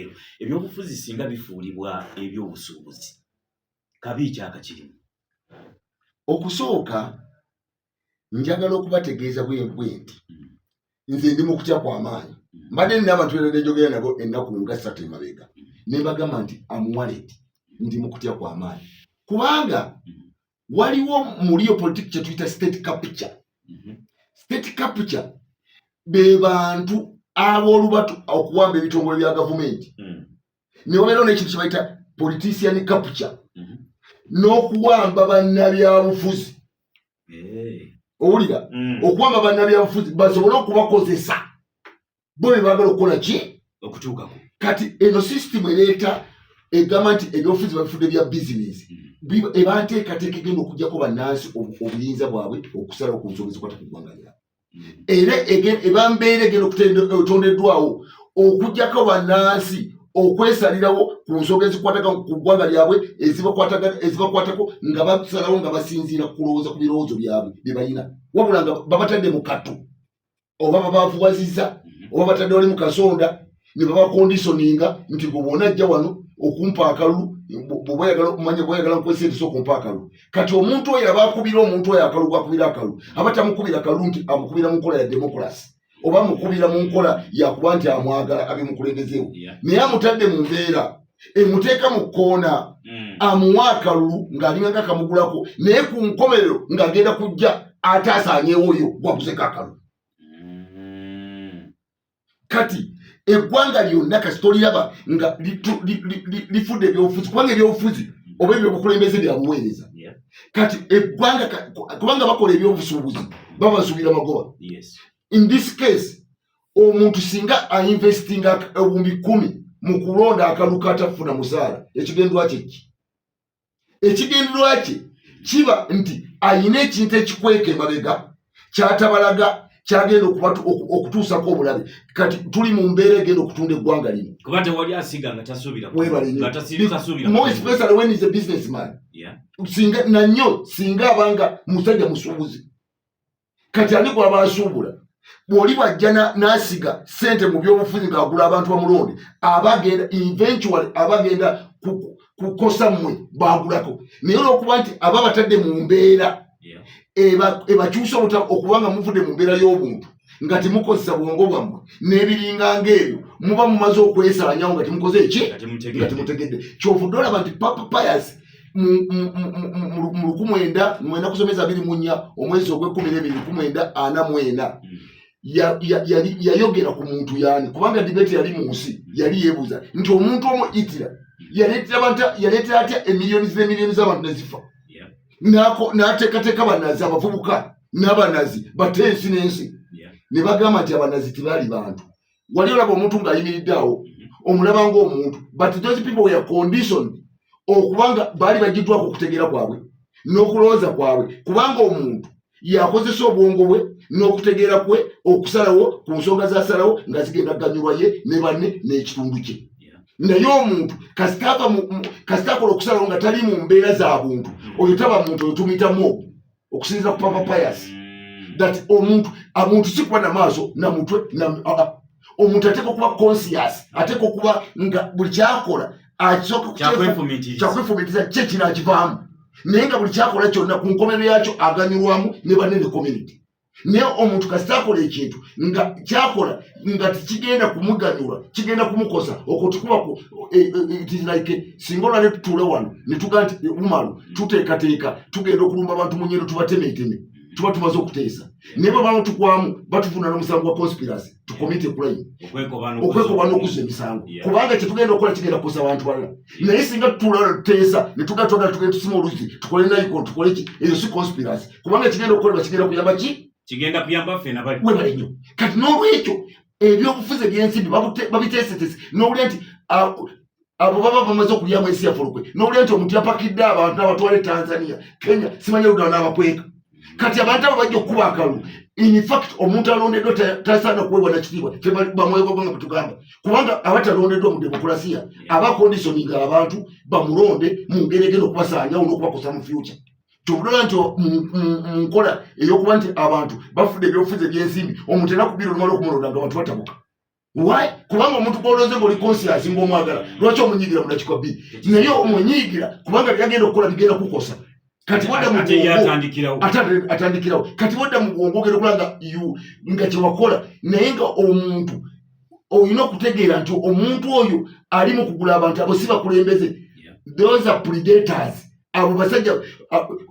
ebyo ebyobufuzi singa bifuulibwa ebyobusuubuzi kabi ekyaka kirimu okusooka njagala okubategeeza bwebwe nti hmm. nze ndi mu kutya kwamaanyi hmm. mbadde nina abantu era nejogera nabo ennaku nga ssatu emabega hmm. nebagamba nti amuwaleti ndi mu kutya kwamaanyi kubanga waliwo muliyo politiki kyetuyita state capture mhm. state capture be bantu ab'olubatu okuwamba ebitongole bya gavumenti mm. ne wabeerawo n'ekintu kyebayita politician capture mhm. n'okuwamba bannabyabufuzi owulira mm. okuwamba bannabyabufuzi basobole okubakozesa bo bye baagala okukola ki okutuukako kati eno sisitimu ereeta egamba nti ebyobufuzi babifudde bya bizinesi hmm. eba nteekateeka egenda okujjako bannansi obuyinza bwabwe okusalawo ku nsonga ezikwata ku ggwanga lyabwe hmm. era eba mbeera egenda okutondeddwawo okujjako bannansi okwesalirawo ku nsonga ezikwataka ku ggwanga lyabwe ezibakwatako nga basalawo nga basinziira kulowooza ku birowoozo byabwe bye balina wabula nga babatadde mu kattu oba babavuwaziza mhm. oba batadde wali mukasonda nebabakondisoninga nti gwe bona ajja wano okumpa akalulu bwoba oyagala okumanya bwoba oyagala nkukozesa entiso okumpa akalulu kati omuntu oyo aba akubira omuntu oyo akalulu gwakubira akalulu aba tamukubira akalulu nti amukubira mu nkola ya demokulasi oba amukubira mu nkola yakuba nti amwagala abimukulembezeewo naye amutadde mu mbeera emuteeka mu kkoona hmm. amuwa akalulu ng'alinganga akamugulako naye ku nkomerero ng'agenda kujja ate asaanyewo oyo gwaguzeko akalulu hmm. kati eggwanga lyonna kasi toliraba nga lifudde ebyobufuzi kubanga ebyobufuzi oba ebyobukulembeze byabuweereza kati eggwanga kubanga bakola ebyobusuubuzi babasuubira magoba in this case omuntu singa ainvestinga ebumbi kumi mu kulonda akaluka atafuna musaala ekigendwa kyeki ekigendwa kye kiba nti ayina ekintu ekikweka emabega kyatabalaga kyagenda okutuusako obulabe kati tuli mu mbeera egenda okutunda eggwanga lino kuba tewali asiga nga tasuubirabusinga nanyo singa abanga musajja musuubuzi kati ani gwaba asuubula bwoli bwajja nasiga sente mu byobufuzi ngaagula abantu bamulonde abagenda eventual abagenda kukosa mmwe baagulako naye olwokuba nti aba batadde mu mbeera ebakyusa obuta okubanga muvudde mu mbeera y'obuntu nga temukozesa bwongo bwammwe n'ebiringa ngaebyo muba mumaze okwesaanyawo nga temukoze eki nga temutegedde kyovudde olaba nti papa payasi mu lukumwenda mwenda kusomeza biri munya omwezi ogwekumi nebiri lukumwenda ana mwena yayogera ku muntu yani kubanga dibeti yali mu nsi yali yebuuza nti omuntu omu itira yaleetera atya emiliyoni zemiliyoni zabantu nezifa nateekateeka banazi abavubuka n'abanazi bate ensi n'ensi ne bagamba nti abanazi tebaali bantu wali olaba omuntu ng'ayimiridde awo omulaba ng'omuntu but those people were conditioned okubanga baali bagiddwako okutegeera kwabwe n'okulowooza kwabwe kubanga omuntu yakozesa obwongo bwe n'okutegeera kwe okusalawo ku nsonga zasalawo nga zigenda ganyulwa ye ne banne n'ekitundu kye naye omuntu kasitakola okusalawo nga tali mu mbeera za buntu oyo taba muntu oyo tumuyitamu ogwo okusinzira ku papa pius that omuntu omuntu sikuba namaaso namutwe omuntu ateeka okuba conscious ateeka okuba nga buli kyakola akyakwefumitiza kye kino akivaamu naye nga buli kyakola kyonna ku nkomero yakyo aganyulwamu ne banene community naye omuntu kasita akola ekintu nga kyakola nga tekigenda kumuganyula kigenda kumukosa okwo tikuba e, e, e, like singa olwale tutuule wano netuga nti umalu tuteekateeka tugenda okulumba abantu munyendo tubatemeeteme tuba tumaze okuteesa naye bwe baba tukwamu batuvunaana omusango gwa conspiracy to commit a crime okwekoba n'okuzza emisango kubanga kyetugenda okukola kigenda kukosa abantu balala naye singa tuteesa netuga twagala tugenda tusima oluzi tukole naiko tukole ki eyo si conspiracy kubanga kigenda okukolebwa kigenda kuyamba ki kigenda kuyamba ffe nabali webale nnyo kati n'olwekyo ebyobufuzi ebyensimbi babiteesetese n'owulira nti ah, abo baba bamaze okulyamu ensi yaffe olukwe nowulira nti omuntu yapakidde abantu nabatwala e tanzania kenya simanya ludala nabakweka kati abantu abo bajja okukuba akalu infact omuntu alondeddwa tasaana kuweebwa nakitiibwa fe bamwegogwa nga bwetugamba kubanga abatalondeddwa mu demokurasiya aba conditioninga abantu bamulonde mu ngeri egenda okubasaanyawo n'okubakosa mu future tubulira nti munkola eyokuba nti abantu bafudde ebyobufuzi ebyensimbi omuntu era kubira olumala okumulonda nga abantu batabuka why kubanga omuntu gwolonze ngoli conscious nga omwagala lwaki omunyigira munakikwa bi naye omunyigira kubanga byagenda okukola bigenda kukosa kati wadda muatandikirawo kati wadda mubwongo ogenda okola nga nga kyewakola naye nga omuntu olina okutegeera nti omuntu oyo ali mu kugula abantu abo si bakulembeze those are predators abo basajja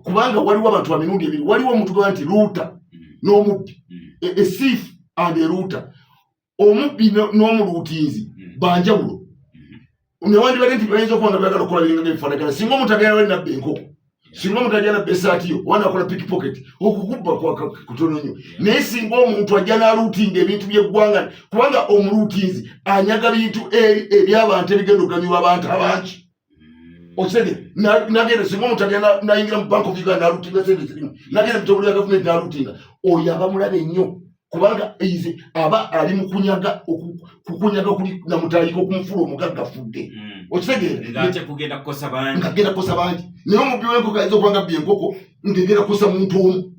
kubanga waliwo abantu ba mirundi ebiri waliwo omuntu gaba nti luuta mm. n'omubbi mm. esiifu e, e and eruuta omubbi n'omuluutiinzi hmm. banjawulo hmm. newandibadde nti bayinza okuba nga bagala okukola biringa byebifaanagana singa omuntu agenda wali nabba enkoko singa omuntu agenda nabba esaati yo oba nakola piki pocket okukubba kutono nnyo naye singa omuntu ajja n'aluutiinga ebintu by'eggwanga kubanga omuluutiinzi anyaga bintu ebyabantu ebigenda okuganyulwa abantu abangi osente nagenda singa omuntu agenda nayingira mu bank of uganda nalutinga sente zirimu nagenda mutobuli ya gavumenti nalutinga oyo abamulaba ennyo kubanga eize aba ali mukunyaga kukunyaga kuli namutayika okumufula omugagga fudde hmm. okitegeera ngagenda kukosa bangi naye omubbi wenkoko ayinza okubanga bbi enkoko ngegera kusa muntu omu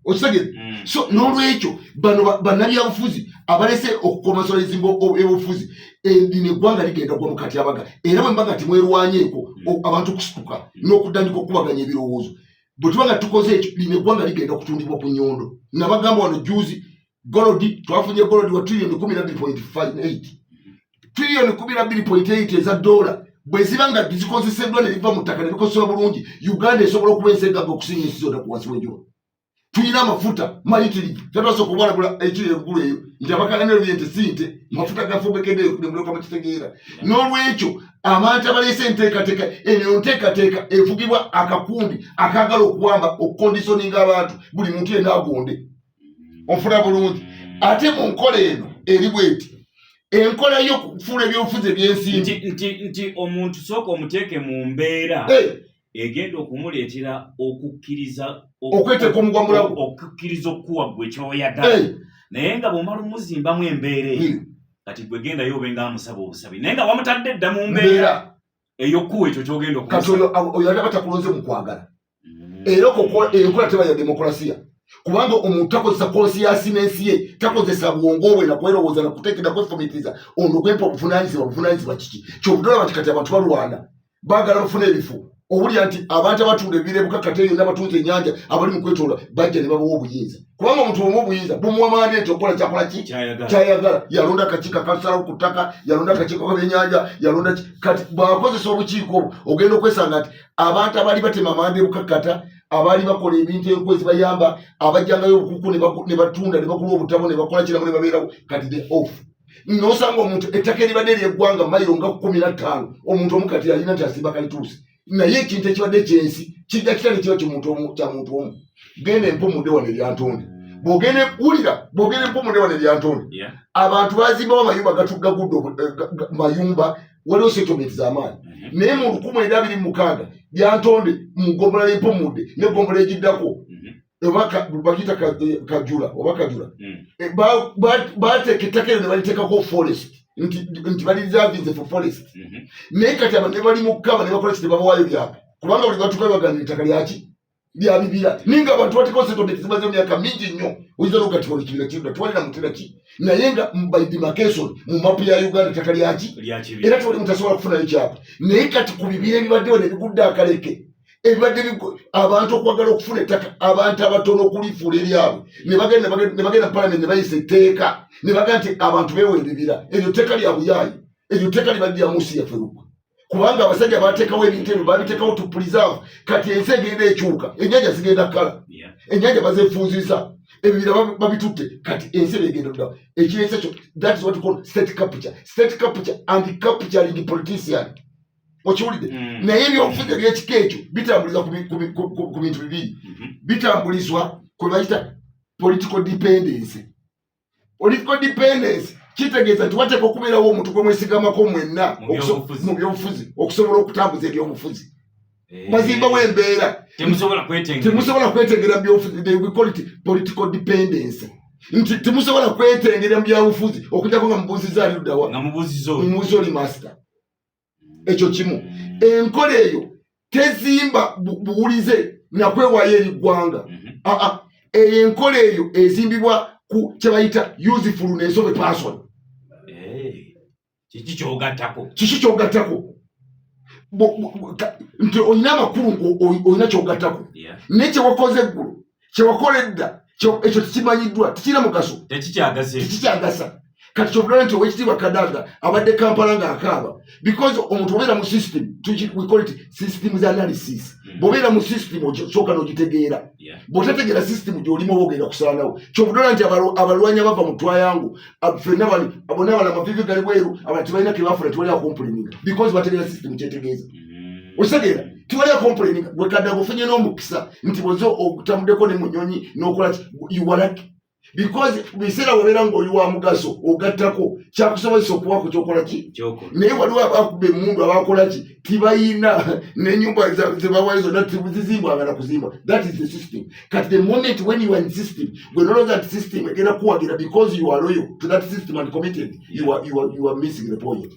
okitegere mm. so n'olwekyo bano bannabyabufuzi abalese okukomasola ezimba ebyobufuzi edina eggwanga ligenda gwa mukatyabaga era bwe mbaga timwerwanyeeko mm. abantu okusituka mm. n'okutandika okukubaganya ebirowoozo bwe tuba nga tukoze ekyo lino eggwanga ligenda okutundibwa ku nyondo nabagamba wano juzi golodi twafunye golodi wa trillion kumi nabbiri point five eight trillion kumi nabbiri point eight eza dola bwe ziba nga zikozeseddwa ne biva mu ttaka ne bikozesebwa bulungi uganda esobola okuba ensi egamba okusinga ensi zonna ku wansi w'enjuba tulina amafuta mayitiri tetwasa okubalagula ekiri eggulu eyo nti abakalaniro bye nti si nte mafuta gafubekeddeyo nemuloka mu kitegeera n'olwekyo abantu abaleese enteekateeka eno nteekateeka evugibwa akakundi akaagala okuwamba okukondisoninga abantu buli muntu yenaagonde ofuna bulungi ate mu nkola eno eri bweti enkola yokufuula ebyobufuzi ebyensimbi nti omuntu sooka omuteeke mu mbeera eh. egenda okumuleetera okukkiriza okweteeka omugwamula okukkiriza okukuwa gwe kyoyagala eh. naye nga bwomala omuzimbamu embeera eyo hmm. kati gwe gendayo obe nga amusaba obusabi naye nga wamutadde dda mu mbeera eyokuwa ekyo kyogenda kati oyo alaba takulonze mu kwagala mm. era enkola teba ya demokulasiya kubanga omuntu takozesa konsiyasi n'ensi ye takozesa bwongo bwe nakwerowooza nakuteekera kwefumitiriza ono kwempa obuvunanyizibwa buvunanyizibwa kiki kyobudolaba nti kati abantu balwana baagala bafuna ebifu obulya nti abantu abatunda ebirebuka kate yonna abatuuza enyanja abali mu kwetoola bajja ne babawa obuyinza kubanga omuntu omu obuyinza bumuwa mandeeti okukola kyakola ki kyayagala yalonda akakiiko akasalawo ku ttaka yalonda akakiiko kabyenyanja yalonda kati bwakozesa obukiiko obwo ogenda okwesanga nti abantu abaali batema amanda ebukakkata abaali bakola ebintu enku ezibayamba abajjangayo obukuku ne batunda ne bakula obutabo ne bakola kiramu ne babeerawo kati the off nosanga omuntu ettaka eribadde eryeggwanga mayiro nga kumi na ttaano omuntu omukati alina nti asimba kalituusi naye ekintu ekibadde kyensi kijja kitya nekiba kimuntu omu kya muntu omu genda empumude wano eryantonde bwogende wulira bwogende empumude wano eryantonde abantu bazimbawo amayumba gatugga gudde eh, mayumba waliwo setomenti zamaanyi mm-hmm. naye mu lukumi eri abiri mukaaga byantonde mu gombola yempumude ne gombola egiddako oba bakiyita kajula oba kajula hmm. eh, bateeka ettaka ero ne baliteekako forest nti bali reservinze for forest mhm. naye kati abantu ne bali mu kukaba ne bakola kiti babawaayo byabwe kubanga buli batuka bagana ettaka lyaki bya bibira naye nga abantu batiko setodde kizimaze emyaka mingi nnyo oyinza nokugatiwa ekibira kirda twalina mutera ki naye nga by demarcation mu mapu ya uganda ettaka lyaki era tewali mutasobola kufunayo kyapa naye kati ku bibira ebibaddewo ne bigudde akaleke ebibadde abantu okwagala okufuna ettaka abantu abatono okulifuula eryabwe ne bagenda palamenti ne bayisa etteeka ne baga nti abantu beewa ebibira eryo tteeka lya buyaayi eryo tteeka libadde lya munsi yaffe lugwe kubanga abasajja bateekawo ebintu ebyo babiteekawo to preserve kati ensi egenda ekyuka enyanja zigenda kala enyanja bazefunziza ebibira babitutte kati ensi begenda dda ekireesa kyo that is what call state capture state capture and capturing politician okiwulidde mm. naye ebyobufuzi ebyekika ekyo bitambulizwa ku bintu bibiri mm-hmm. bitambulizwa kwe bayita political dependency political dependency kitegeeza nti wateeka okubeerawo omuntu gwe mwesigamako mwenna mu byobufuzi okusobola okutambuza ebyobufuzi eh. bazimbawo embeera temusobola kwetengera byobufuzi they will call it political dependency nti temusobola kwetengera mu byabufuzi okujako nga mubuuziza aliddawa nga mubuuziza oli master ekyo kimu enkola eyo tezimba buwulize nakwewayo eri ggwanga mhm. ah, ah. eyo enkola eyo ezimbibwa ku kyebayita useful nensobe person eh, kiki kyogattako kiki kyogattako nti olina amakulu olina kyogattako naye kyewakoze eggulu kyewakola edda ekyo tekimanyiddwa tekirina mugaso tekikyagasa kati kyovulaba nti owekitiibwa kadaga abadde kampala nga akaaba because omuntu obeera mu system systems analysis mm. bwobeera mu system osooka nogitegeera bwotategeera system gyolimu oba ogenda kusalanawo kyovulaba nti abalwanyi abava mu twayangu fena bona abala amavivi gali bweru abala tebalina kebafuna tewali akompulininga because bategeera system kyetegeeza mm. okitegeera tiwali akomplaini gwekadda gufunye n'omukisa nti bweza otamudeko ne munyonyi n'okola iwalaki because biseera wabeera nga oli wa mugaso ogattako kyakusobozesa okuba ku kyokola ki naye waliwo abakuba emundu abakola ki tibayina nenyumba zebawayo zonna tizizimbwa agala kuzimba that is the system kati the moment when you are in system gwe nolowooza nti system egenda kuwagira because you are loyal to that system and committed you are, you are, you are missing the point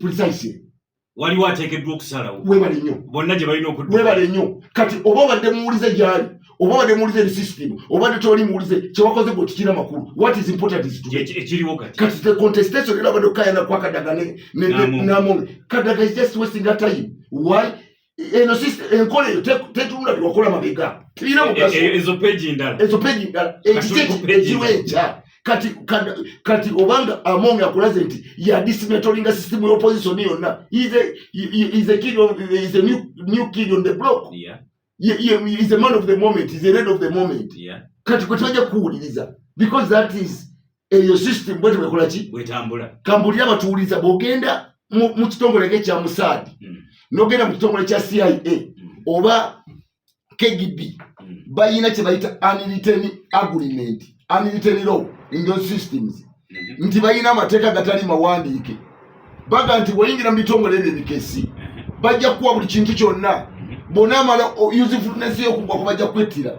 precisely waliwo ateekeddwa okusalawo webale nnyo bonna gye balina okudda webale nnyo kati oba obadde muwulize gyali oba obadde muwulize eri system obadde toli muwulize kyewakoze gwe tikira makulu what is important is ekiriwo kati kati the contestation era abadde okukayana kwakadaga ne namome kadaga is just wasting a time why eno enkola eyo tetunula byewakola mabega tirina mugasoezo peji ndala ekiki ekiwa enkya kati kati obanga among akulaze nti yadismetolinga system ya opposition yonna is a, is a kid of, is a new, new kid on the block yeah. Ye, ye, is a man of the moment is a red of the moment yeah. kati kwe tebajja kukuwuliriza because that is eyo system bwete bwekola ki bwetambula kambulira abatuwuliza bwogenda mu kitongole nga ekya musaadi hmm. nogenda mu kitongole kya cia hmm. oba kgb hmm. bayina kyebayita aniliteni agreement aniliteni law in those systems mhm. nti bayina amateeka gatali mawandiike baga nti weyingira mu bitongole ebyo ebikesi mhm. bajja kuwa buli kintu kyonna mhm. bonaamala usefulness yokugwa kubajja kwettira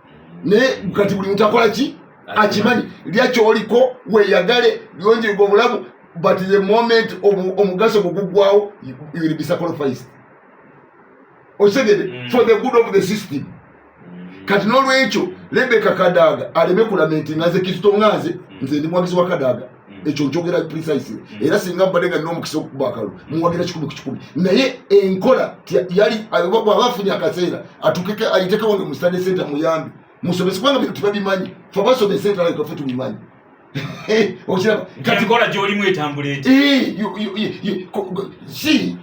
naye kati buli mutakola ki akimanyi lya kyoliko weyagale lyonjirwa obulamu but the moment omugaso gugugwawo will be sacrificed osegede mm. for the good of the system mm. kati nolwekyo lebeka kadaga aleme kulamentinga nze kizito nga nze mm. nze ndi mwagizi wa kadaga Mm. ekyo njogera precise mm. era singa mbadde nga nina omukisa okukuba akalulu mm. muwagira kikumi ku kikumi naye enkola yali bwaba afunye akaseera atukeke ayitekewo ne musitane senta muyambi musomese kubanga bintu tubabimanyi fe abasomesa entala yetwaffe tubimanyi okiraba kati nkola gyolimu etambula eti si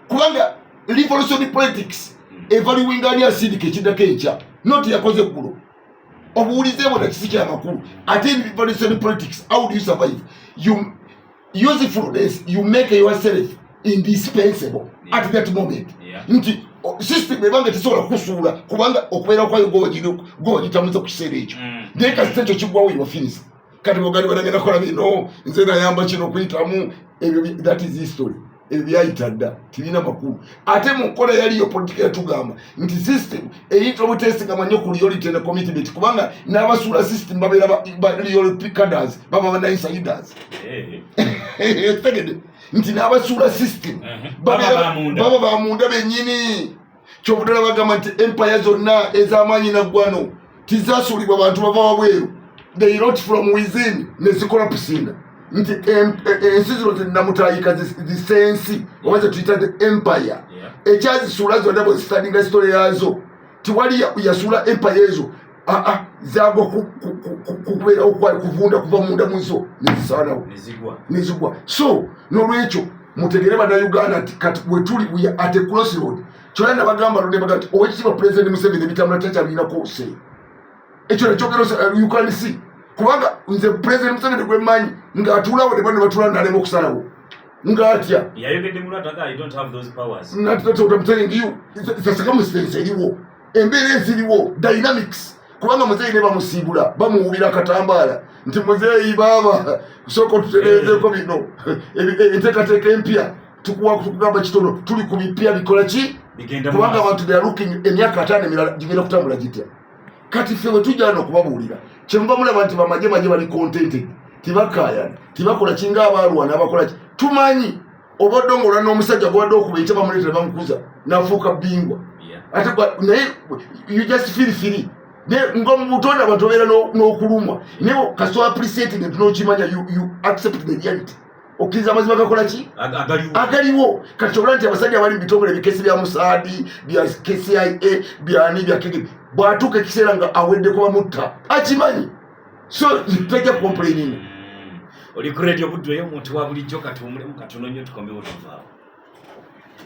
kubanga revolution politics evaluwinga ani asindika ekidako enkya noti yakoze eggulo obuwulize bwona kisi kyamakulu ate in revolution politics how do you survive you usefulness you make yourself indispensable yeah. at that moment yeah. nti system ebanga tesobola kusuula kubanga okubeera kwayo gogitamuza ku kiseera ekyo mm. naye kasita ekyo kigwawo yofinisa kati bogali banagenda kola bino nze nayamba kino kuyitamu ebyo that is history ebyo byayita dda tibirina makulu ate mu nkola yaliyo politika yatugamba nti system eyinza obutesigama nnyo ku reality ne commitment kubanga n'abasuula system babeera ba reality caders baba ba insiders eh. tegede nti n'abasuula system eh. baba ba munda bennyini kyobudala bagamba nti empaya zonna ezamaanyi naggwano tizasuulibwa bantu bava wabweru they rot from within nezikola pusinda nti ensi zino zinamutayika zisensi oba zetuyita the empire ekyazisuula zonna bwezistandinga sitole yaazo tiwali yasuula empaya ezo ah, ah, zagwa kubeerawo kwayo kuvunda kuva munda muzo nezisaanawo nezigwa so nolwekyo mutegere banauganda nti kati wetuli we at a cross road kyona nabagamba ludebaga nti owekitiibwa president museveni ebitambula takyabiinako se ekyo nakyogero uh, you can see kubanga nze president museveni gwemanyi ngaatuulawo ne bano batuula nalema okusalawo ngatya nati totamtelingiyo sasakamusirensi eriwo embeera eziriwo dynamics kubanga muzeeyi ne bamusiibula bamuwubira katambaala nti muzeeyi baaba sooka otutereezeeko bino enteekateeka empya tukugamba kitono tuli ku bipya bikola ki kubanga abantu they are looking emyaka ataano emirala gigenda kutambula gitya kati ffe bwe tujja no okubabuulira kyemuba mulaba nti bamaje maje bali contented tibakaayana tibakola kinga abaalwana abakola ki tumanyi obadde ngaolwa n'omusajja gwabadde okuba ekya bamuleetera bamukuza nafuuka bingwa ate naye you just feel free nga mubutonda abantu obeera n'okulumwa naye kasi appreciating nti nokimanya you accept the reality okkiriza amazima gakola ki agaliwo kati kyobula nti abasajja abali mu bitongole ebikesi bya musaadi bya kcia byani bya kege bwatuuka ekiseera nga aweddeko bamutta akimanyi so tajja complaining oli ku radio budweyo omuntu wa bulijjo katuwumulemu katono nnyo tukomewo tuvaawo